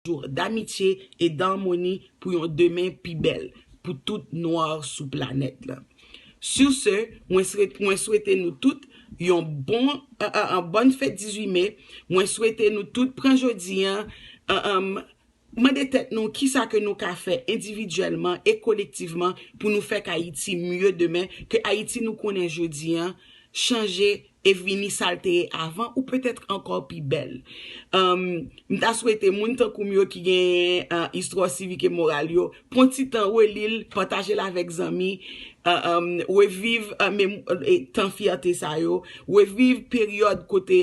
Jou damitye e darmoni pou yon demen pi bèl pou tout noir sou planèt la sur ce mwen sret mwen swete nou tout yon bon an bòn fèt 18 mai mwen swete nou tout pran jodi an an mande tèt nou kisa ke nou ka fè endividyèlman e kolektivman pou nou fè k ayiti mye demen ke ayiti nou konnen jodi an chanje e vini sal te ye avan ou peut-être ankò pi bèl humm m ta swete moun tankoum yo ki genyen istwa sivik e moral yo pwan ti tan relil patajel avèk zanmi humm reviv tan fyète sa yo reviv peryòd kote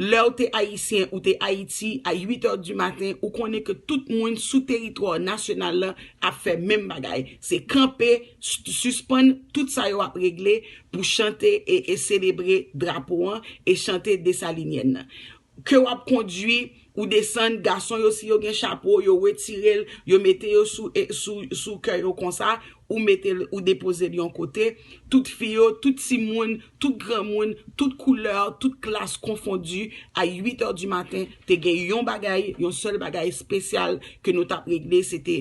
lèw te ayisyen ou te ayiti a 8 heures du matin ou konnen ke tout moun sou teritwa nasyonal lan ap fè menm bagay se kanpe Suspann tout sa yo ap regle pou chante e selebre drapo an e chante Desalinyèn nan. Ke w ap kondwi, ou desann, gason yo si yo gen chapo, yo retire l, yo mete yo sou kè yo konsa, ou mete l, ou depoze l yon kote. Tout fi yo, tout timoun, Tout granmoun, tout koulè, tout klas konfondi, a 8 è di maten, te gen yon bagay, yon sèl bagay espesyal ke nou t ap regle, se te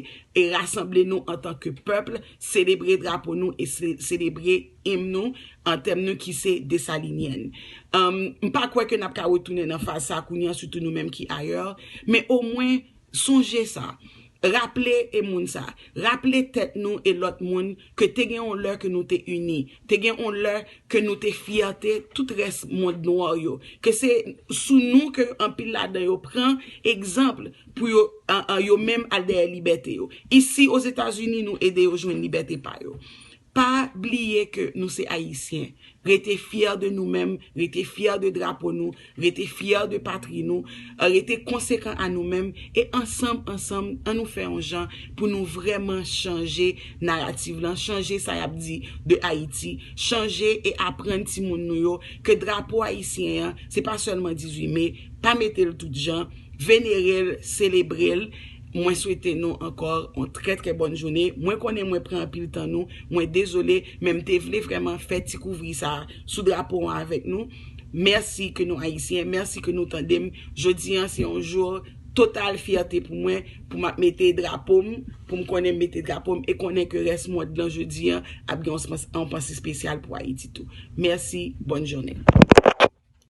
rasanble nou antan ke pèp, selebre drapo nou e selebre im nou, antèm nou ki se Dessalinienne. M pa kwè ke n ap ka retounen nan faz sa kounye a, sitou nou menm ki ayè, men omwen, Sonje sa. Raple e moun sa. Raple tèt nou e lòt moun ke te gen on lè ke nou te ini. Te gen on lè ke nou te fyète tout rès mond nwa yo. Ke se sou nou ke anpil ladan yo pran egzanpl pou yo yo menm al dèyè libète yo. Isi Ozetazini nou ede yo jwenn libète pa yo. Pa bliye ke nou se Ayisyen. Rete fyè de nou menm, rete fyè de drapo nou, rete fyè de patri nou, rete konsekan a nou menm, e ansanm, ansanm, an nou fè yon jan pou nou vrèman chanje narativ lan, chanje sa y ap di de Ayiti, chanje e aprann timoun nou yo ke drapo ayisyen an, se pa sèlman 18 me, pa mete l tout jan, venere l, selebre l. Mwen swete nou ankò yon trè trè bòn joune. Mwen konnen mwen pran anpil tan nou. Mwen dezole, men m te vle vrèman fè ti kouvri sa a sou drapo an avèk nou. Mèsi ke nou Ayisyen, mèsi ke nou tande m. Jodi an se yon jou total fyète pou mwen, pou m ap mete drapo m, pou m konnen m mete drapo m, e konnen ke rès mond lan jodi an ap gen yon panse spesyal pou Ayiti tou. Mèsi, bòn jounen.